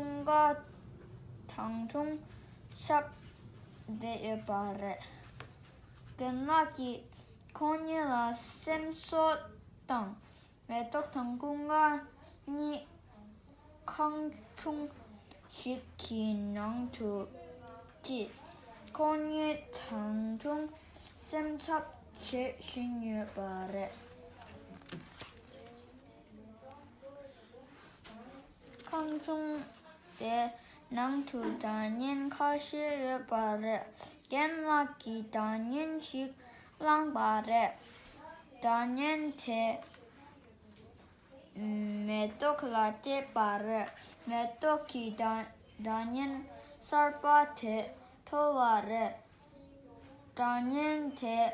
ཁྲུང་ཀ་དང་ཁྲུང་ཆབ་བསྡད་ཡོད་པ་རེད། རྒན་ལགས་ཀྱིས་ཁོང་གཉིས་ལ་སེམས་གསོ་དང་མེ་ཏོག་དང་ཀུན་དགའ་གཉིས་ཁང་ཆུང་ཞིག་གི་ནང་དུ་བསྐྱིས། ཁོང་གཉིས་དང་ཁྲུང་སེམས་འཚབ་བྱེད་བཞིན་ཡོད་པ་རེད། ཁང་ཆུང་དེའི་ནང་དུ་དྲ་བརྙན་ཁ་ཤས་ཡོད་པ་རེད། རྒན་ལགས་ཀྱིས་དྲ་བརྙན་ཞིག་བླངས་པ་རེད། དྲ་བརྙན་དེ་མེ་ཏོག་ལ་སྤྲད་པ་རེད། མེ་ཏོག་གིས་དྲ་བརྙན་གསར་པ་དེ་མཐོ་བ་རེད། དྲ་བརྙན་དེའི་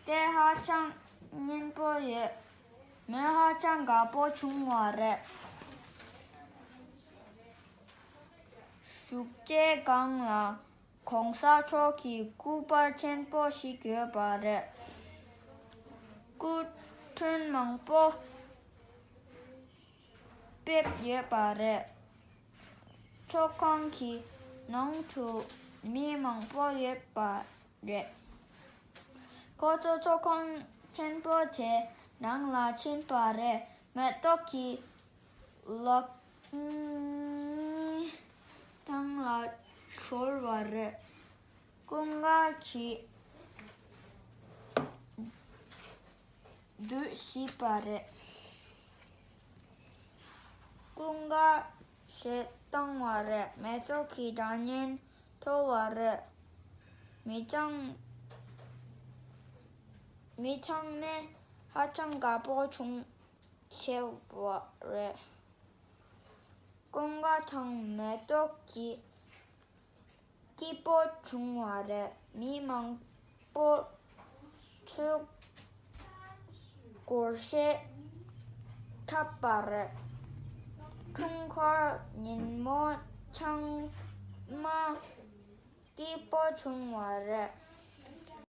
སྐད་ཧ་ཅང་སྙན་པོ་ཡོད། མོས་ཧ་ཅང་དགའ་པོ་བྱུང་བ་རེད། བཞུགས་སྐྱེལ་སྒང་ལ ྋགོང་ས་མཆོག་གི་སྐུ་པར་ཆེན་པོ་ཞིག་ཡོད་པ་རེད། སྐུ་མགྲོན་མང་པོ་ཕེབས་ཡོད་པ་རེད། ཚོགས་ཁང་གི་ནང་དུ་མི་མང་པོ་ཡོད་པ་རེད། ཁོ་ཚོ་ཚོགས་ཁང་ཆེན་པོ་དེའི་ནང་ལ་ཕྱིན་པ་རེད་མེ་ཏོག་གི་ལག་གཉིས་ཐང་ལ་ཤོར་བ་རེད། སྐུ་ངལ་གྱིས་སྡོད་སྲིད་པ་རེད། སྐུ་ངལ་བྱེད་བཏང་བ་རེད་མེ་ཏོག་གི་སྒྲ་སྙན་མཐོ་བ་རེད། མི་ཚང་མི་ཚང་མས་ཧ་ཅང་དགའ་པོ་བྱུང་ཆེ་བ་རེད། ཀོང་དགའ་དང་མེ་ཏོག་གི་སྐྱིད་པོ་བྱུང་བ་རེད་མི་མང། སྤོར། འཕྲུལ་འཁོར་ཤེས་འཁྲབ་པ་རེད། འཕྲུལ་འཁོར་ཉིན་མོ་ཆང་མ་སྐྱིད་པོ་བྱུང་བ་རེད།